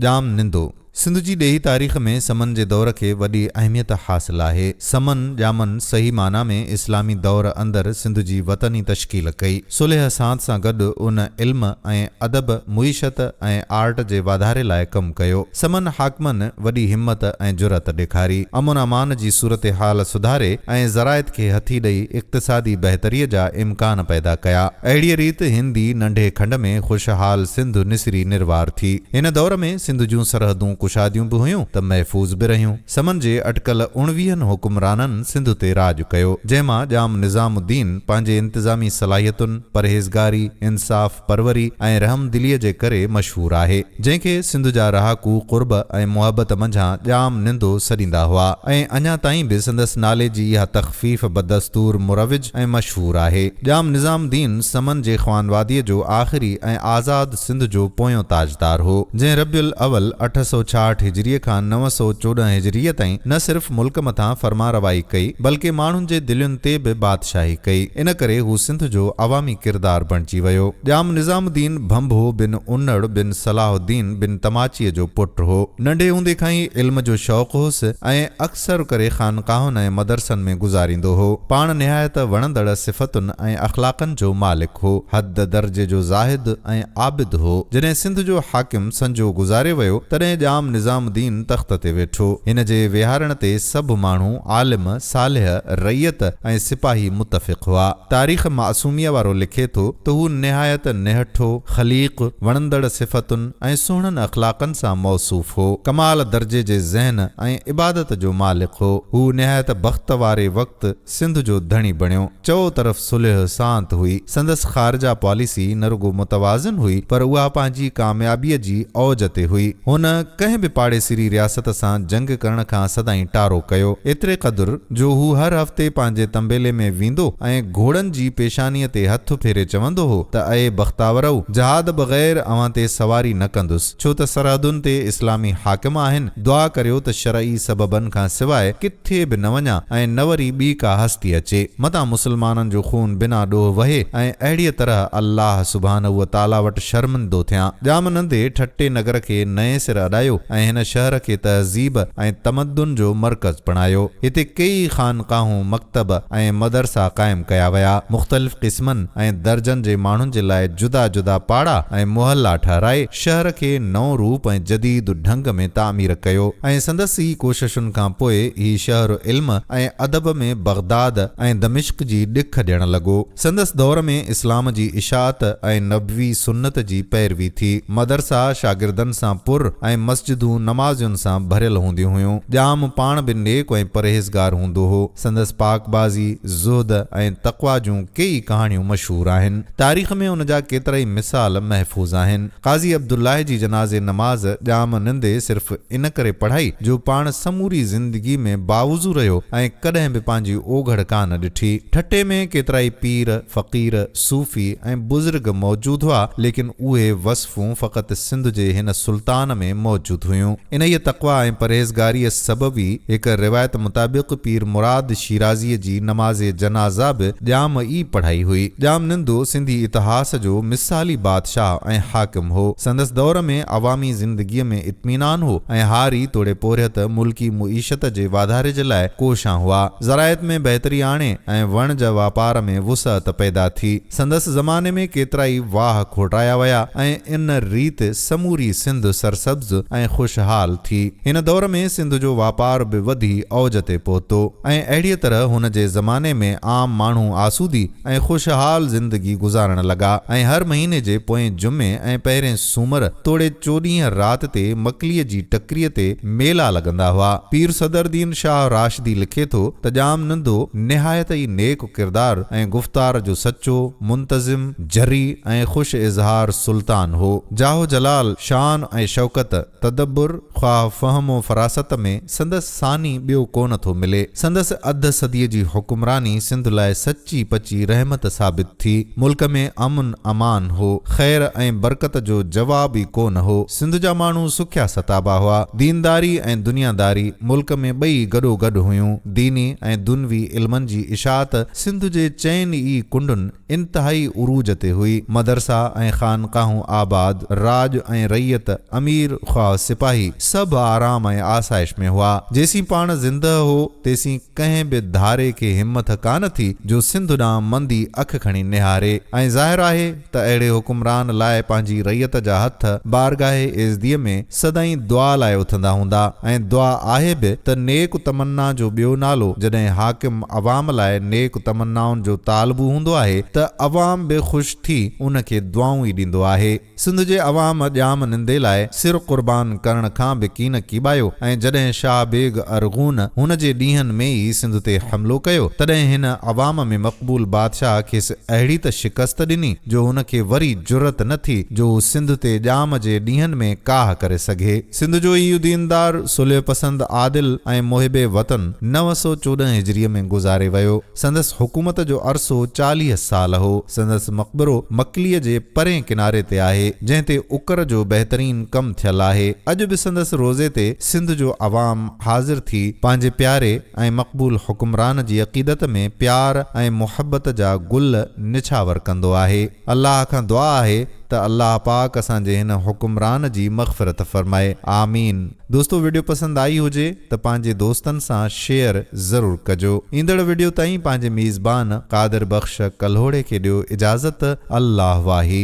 ڄام نندو، سنڌ جي ڏيهي تاريخ ۾ سمن جي دور کي وڏي اهميت حاصل آهي. سمن، ڄامن، صحيح معنيٰ ۾ اسلامي دور اندر سنڌ جي وطني تشڪيل ڪئي. صلح سانت سان گڏ ان علم ۽ ادب، معيشت ۽ آرٽ جي واڌاري لاء ڪم ڪيو. سمن حاڪمن وڏي همت ۽ جرئت ڏيکاري. امن امان جي صورتحال سڌاري ۽ زراعت کي هٿي ڏئي اقتصادي بهتري جا امڪان پيدا ڪيا. اهڙيء ريت هندي ننڍي کنڊ ۾ خوشحال سنڌ نسري نروار ٿي. هن دور ۾ سنڌ جون سرحدون ڪشاديون به هيون ته محفوظ به رهيون. سمن جي اٽڪل اڻويهن حڪمرانن سنڌ تي راڄ ڪيو، جنهن مان ڄام نظام الدين پنهنجي انتظامي صلاحيتن، پرهيزگاري، انصاف پروري ۽ رحمدليء جي ڪري مشهور آهي، جنهن کي سنڌ جا رهاڪو قرب ۽ محبت منجهان ڄام نندو سڏيندا هئا ۽ اڃا تائين به سندس نالي جي اها تخفيف بدستور مروج ۽ مشهور آهي. ڄام نظام الدين سمن جي خوانواديء جو آخري ۽ آزاد سنڌ جو پويون تاجدار هو، جنهن ربيع الاول اٺ سؤ ڇاهٺ هجريء کان نو سؤ چوڏهن هجريء تائين نه صرف ملڪ مٿان فرمانروائي ڪئي، بلڪه ماڻهن جي دلين تي به بادشاهي ڪئي. ان ڪري هو سنڌ جو عوامي ڪردار بڻجي ويو. ڄام نظام الدين ڀنڀو بن انڙ بن صلاح الدين بن تماچيء جو پٽ هو. ننڍي هوندي کان ئي علم جو شوق هوس ۽ اڪثر ڪري خانقاهن ۽ مدرسن ۾ گذاريندو هو. پاڻ نهايت وڻندڙ صفتن ۽ اخلاقن جو مالڪ هو. حد درجي جو زاهد ۽ عابد هو. جڏهن سنڌ جو حاڪم سنجو گذاري ويو، تڏهن ڄام نظام الدين تخت تي ويٺو. هن جي ويهارڻ تي سڀ ماڻهو، عالم، صالح، رعيت ۽ سپاهي متفق هئا. تاريخ معصوميه وارو لکي ٿو ته هو نهايت نهٺو، خليق، وڻندڙ صفتن، ۽ سهڻن اخلاقن سان موصوف هو. ڪمال درجي جي ذهن ۽ عبادت جو مالڪ هو. هو نهايت بخت واري وقت سنڌ جو ڌڻي بڻيو. چئو طرف صلح سانت هئي. سندس خارجه پاليسي نه رڳو متوازن هئي پر اها پنهنجي ڪاميابيء جي اوج تي هئي. هن ڪنهن به پاڙيسري رياست سان جنگ ڪرڻ کان سدائين ٽارو ڪيو. ايتري قدر. جو هو هر هفتي پنهنجي تنبيلي ۾ ويندو ۽ گهوڙن جي پيشانيء تي هٿ ڦيري چوندو هو ته اي بختاورؤ! جهاد بغير اوهان تي سواري نه ڪندس، ڇو ته سرحدن تي اسلامي حاڪم آهن، دعا ڪريو ته شرعي سببن کان سواء ڪٿي به نه وڃان ۽ نه وري ٻي ڪا هستي اچي، متان مسلمانن جو خون بنا ڏوهه وهي ۽ اهڙيء طرح الله سبحانه و تعاليٰ وٽ شرمندو ٿيان. ڄام نندي ٺٽي نگر کي نئين سر اڏايو ۽ هن شهر کي تهذيب، ۽ تمدن جو مرڪز بڻايو. هتي ڪيئي خانقاهون، مڪتب ۽ مدرسا قائم ڪيا ويا. مختلف قسمن ۽ درجن جي ماڻهن جي لاء جدا جدا پاڙا ۽ محلا ٺهرائي، شهر کي نئون روپ ۽ جديد ڍنگ ۾ تعمير ڪيو ۽ سندس ئي ڪوششن کان پوء هي شهر علم ۽ ادب ۾ بغداد ۽ دمشق جي ڏک ڏيڻ لڳو. سندس دور ۾ اسلام جي اشاعت ۽ نبوي سنت جي پيروي ٿي. مدرسا شاگردن سان پر ۽ مسجدون نمازين سان ڀريل هونديون هيون. ڄام پاڻ به نيڪ ۽ پرهيزگار هوندو هو. سندس پاڪبازي، زهد ۽ تقويٰ جون ڪيئي ڪهاڻيون مشهور آهن. تاريخ ۾ ان جا ڪيترائي مثال محفوظ آهن. قاضي عبدالله جي جنازي نماز ڄام نندي صرف. ان ڪري پڙهائي جو پاڻ سموري زندگي ۾ باوضو رهيو ۽ ڪڏهن به پنهنجي اوگهڙ ڪانه ڏٺي. ٺٽي ۾ ڪيترائي پير، فقير، صوفي ۽ بزرگ موجود هئا، ليڪن اهي وصفون فقط سنڌ جي هن سلطان ۾ موجود هيون. انهيء تقويٰ ۽ پرهيزگاريء سبب ئي هڪ روايت مطابق پير مراد شيرازيء جي نماز جنازه به ڄام ئي پڙهائي هئي. ڄام نندو سنڌي اتهاس جو مثالي بادشاهه ۽ حاڪم هو. سندس دور ۾ عوامي زندگيء ۾ اطمينان هو ۽ هاري توڙي پورهيت ملڪي معيشت جي واڌاري جي لاء ڪوشان هئا. زراعت ۾ بهتري آڻي ۽ وڻ جا واپار ۾ وسعت پيدا ٿي. سندس زماني ۾ ڪيترائي واهه کوٽايا ويا ۽ ان ريت سموري سنڌ سرسبز ۽ خوشحال ٿي. هن دور ۾ سنڌ جو واپار به وڌي اوج تي پهتو ۽ اهڙيء طرح هن جي زماني ۾ عام ماڻهو آسودي، ۽ خوشحال زندگي گذارڻ لڳا ۽ هر مهيني جي پوئين جمعي ۽ پهرين سومر توڙي چوڏهينء رات تي مڪليء جي ٽڪريء تي ميلا لڳندا هئا. پير صدرالدين شاهه راشدي لکي ٿو ته ڄام نندو نهايت ئي نيڪ ڪردار ۽ گفتار جو سچو، منتظم، جريء ۽ خوش اظهار سلطان هو. جاه و جلال، شان ۽ شوڪت، تدبر، خواهه فهم و فراست ۾ سندس. ثاني ٻيو ڪونه ٿو ملي. سندس اڌ صديء جي حڪمراني سنڌ لاء سچي پچي رحمت ثابت ٿي. ملڪ ۾ امن امان هو. خير ۽ برڪت جو جواب ئي ڪونه هو. سنڌ جا ماڻهو سکيا ستابا هئا. دينداري ۽ دنياداري ملڪ ۾ ٻئي گڏو گڏ هيون. ديني ۽ دنوي علمن جي اشاعت سنڌ جي چئن ئي ڪنڊن، انتهائي عروج تي هئي. مدرسا ۽ خانقاهون آباد، راڄ ۽ رعيت، امير خواه سپاهي، سڀ آرام ۽ آسائش ۾ هئا. جيسين پاڻ زندهه هو، تيسين ڪنهن به ڌاري کي همٿ ڪا نه ٿي جو سنڌ ڏانهن مندي اک کڻي نهاري ۽ ظاهر آهي ته اهڙي حڪمران لاء پنهنجي رعيت جا هٿ بارگاهه ايزديء ۾ سدائين دعا لاء اٿندا هوندا ۽ دعا آهي به ته نيڪ تمنا جو ٻيو نالو جڏهن حاڪم عوام لاء نيڪ تمنائن جو طالبو هوندو آهي ته عوام به خوش ٿي ان کي دعائون ئي ڏيندو آهي. سنڌ جي عوام ڄام نندي لاء سر قربان ڪرڻ کان به ڪين ڪيٻايو ۽ جڏهن شاهه بيگ ارغون هن جي ڏينهن ۾ ئي سنڌ تي حملو ڪيو تڏهن هن عوام ۾ مقبول بادشاهه کيس اهڙي ته شڪست ڏني جو هن کي وري جرئت نه ٿي جو هو سنڌ تي ڄام جي ڏينهن ۾ ڪاهه ڪري سگهي. سنڌ جو اهو ديندار، صلح پسند، عادل ۽ محب وطن نو سؤ چوڏهن هجريء ۾ گذاري ويو. سندس حڪومت جو عرصو چاليهه سال هو. سندس مقبرو مڪليء جي پرئين ڪناري تي آهي، جنهن تي اڪر جو بهترين ڪم ٿيل آهي. اڄ به سندس روضي تي سنڌ جو عوام حاضر ٿي پنهنجي پياري، ۽ مقبول حڪمران جي عقيدت ۾ پيار ۽ محبت جا گل نڇاور ڪندو آهي. الله کان دعا آهي ته الله پاڪ اسان جي هن حڪمران جي مغفرت فرمائي. آمين. دوستو وڊيو پسند آئي هجي ته پنهنجي دوستن سان شيئر ضرور ڪجو. ايندڙ وڊيو تائين پنهنجي ميزبان قادر بخش ڪلهوڙي کي ڏيو اجازت الله واهي.